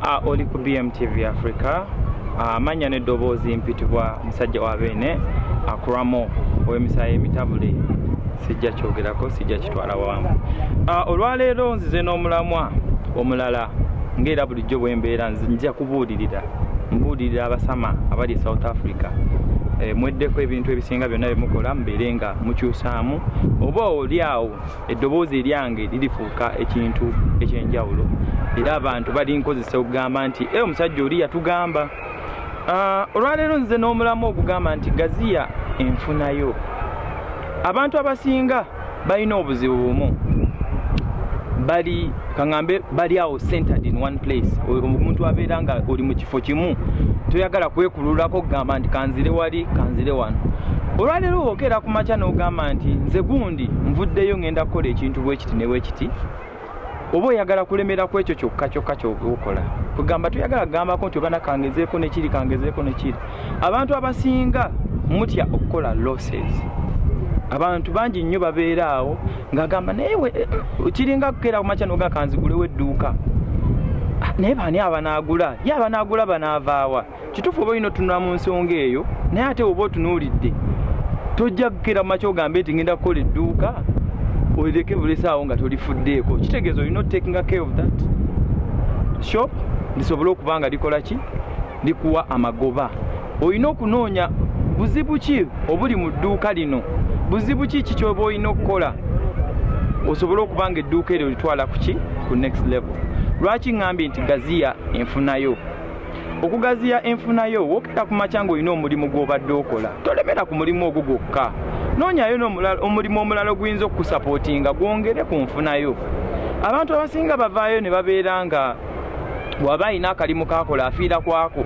Ah, oli ku BMTV Africa ah, amanya ah, n'eddoboozi mpitibwa musajja wa beene akuramo ah, ow'emisaayi emitabule sijja kyogerako sijja kitwala wamu ah, olwaleero nzize n'omulamwa omulala ng'era bulijjo bwe mbeera nzija kubuulirira mbuulirira abasama abali e south africa eh, mweddeko ebintu ebisinga byonna bye mukola mubeere nga mukyusaamu oba oli awo eddoboozi eryange lirifuuka ekintu ekyenjawulo era abantu balinkozesa okugamba nti e omusajja oli yatugamba ah, olwaleero nze n'omulamu okugamba nti gaziya enfunayo abantu abasinga balina obuzibu bumu bali kaŋambe bali awo centered in one place omuntu abeera nga oli mu kifo kimu toyagala kwekululako okugamba nti kanzire wali kanzire wano olwaleero wokeera ku makya n'ogamba nti nze gundi nvuddeyo ŋenda kukola ekintu bwekiti ne bwekiti oba oyagala kulemera ku ekyo kyokka kyokka kyokola kwegamba toyagala kugambako nti ogana kangezeeko nekiri kangezeeko nekiri abantu abasinga mutya okukola losses abantu bangi nnyo babeera awo ngagamba naye kiringa kukera kumakya noga kanzigulewo edduuka ah, naye baani abanaagula ye abanaagula banaavaawa kituufu oba olina otunula mu nsonga eyo naye ate oba otunuulidde tojja kukera kumakya ogambe nti ngenda kukola edduuka olireke bulesaawo nga tolifuddeeko kitegeeza olina otakinga care of that shop lisobole okuba nga likola ki likuwa amagoba. Olina okunoonya buzibu ki obuli mu dduuka lino, buzibu ki ki kyoba olina okukola osobole okuba nga edduuka eryo litwala kuki ku next level. Lwaki ŋŋambye nti gaziya enfunayo? okugaziya enfunayo wokera ku makya ng'olina omulimu gw'obadde okola tolemera ku mulimu ogwo gwokka noonyayo omulimu omulala oguyinza okukusapootinga gwongere ku nfunayo abantu abasinga bavaayo ne babeera nga waba alina akalimu kakola afiira kwako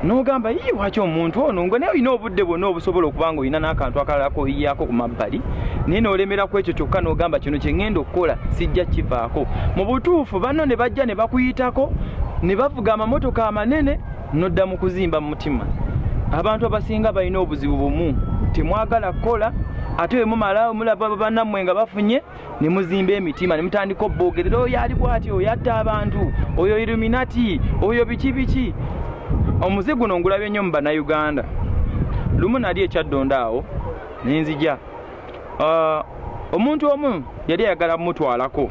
nogamba yi waki omuntu ono nga naye olina obudde bwonna obusobola okuba nga olina n'akantu akalala koyiyako ku mabbali naye nolemera ku ekyo kyokka nogamba kino kyeŋŋenda okukola sijja kivaako mu butuufu banno ne bajja ne bakuyitako ne bavuga amamotoka amanene nodda mu kuzimba mu mutima abantu abasinga balina obuzibu bumu temwagala kukola ate bemumala mulaba banammwe nga bafunye ne muzimba emitima ne mutandika obboogerera oyo ali bwati oyo atta abantu oyo iluminati oyo biki biki omuze guno ngulabye nnyo mu bannayuganda lumu nali ekyaddonda awo nenzija ah, omuntu omu yali ayagala mumutwalako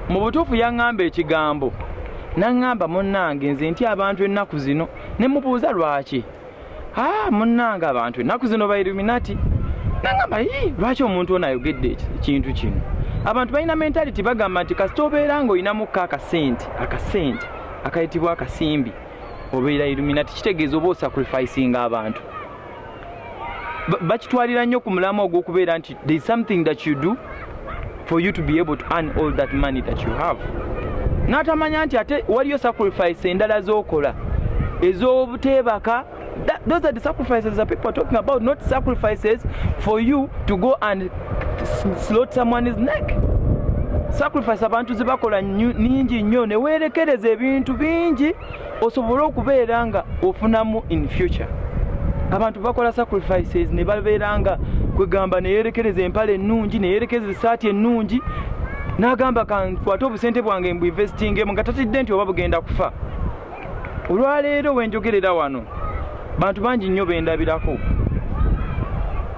mu butuufu yaŋŋamba ekigambo naŋŋamba munnange nze nti abantu ennaku zino ne mubuuza lwaki ah, munnange abantu ennaku zino ba illuminati nangamba lwaki omuntu ono ayogedde ekintu kino abantu balina mentality bagamba nti kasita obeera nga olinamuko akasente akasente akayitibwa akasimbi obeera illuminati kitegeeza oba osacrificinga abantu bakitwalira nnyo ku mulamu ogw'okubeera nti there is something that you do for you to be able to earn all that money that you have n'atamanya nti ate waliyo sacrifice endala z'okola ez'obuteebaka those are the sacrifices that people are talking about not sacrifices for you to go and slot someone's neck sacrifice abantu zibakola ningi nnyo neweerekereza ebintu bingi osobole okubeera nga ofunamu in future abantu bakola sacrifices ne babeera nga kwegamba neyerekereza empale ennungi neyerekereza esaati ennungi n'agamba kankwate obusente bwange mbu investingemu nga tatidde nti oba bugenda kufa olwaleero wenjogerera wano bantu bangi nnyo bendabirako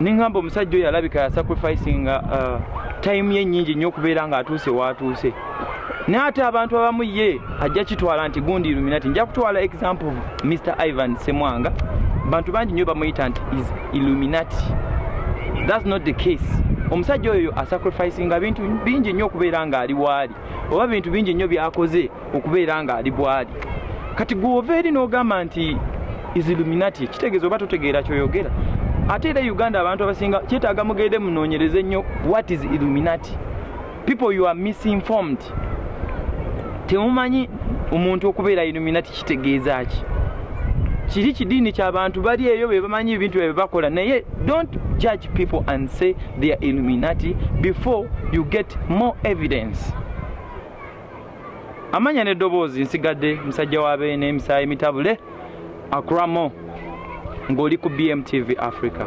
neŋamba omusajja oyo alabika yasacrificinga uh, time ye nnyingi nnyo okubeera ng'atuuse waatuuse naye ate abantu abamu ye ajja kitwala nti gundi illuminati nja kutwala example mr ivan semwanga bantu bangi nyo bamuyita nti is illuminati thats not the case omusajja oyo asacrificinga bintu bingi nnyo okubeera ng'ali waali oba bintu bingi nnyo byakoze okubeera ng'ali bwali kati gwova eri n'ogamba nti isiluminati kitegeeza oba totegeera kyoyogera ate era e uganda abantu abasinga kyetaaga mugende munoonyereze nnyo what is illuminati people you are misinformed temumanyi omuntu okubeera illuminati kitegeeza ki kiri kidiini kyabantu bali eyo bebamanyi ebintu ebyo bakola naye don't judge people and say they are illuminati before you get more evidence amanya neddoboozi nsigadde musajja wa beene emisaayi mitabule akuramo ng'oli ku bmtv africa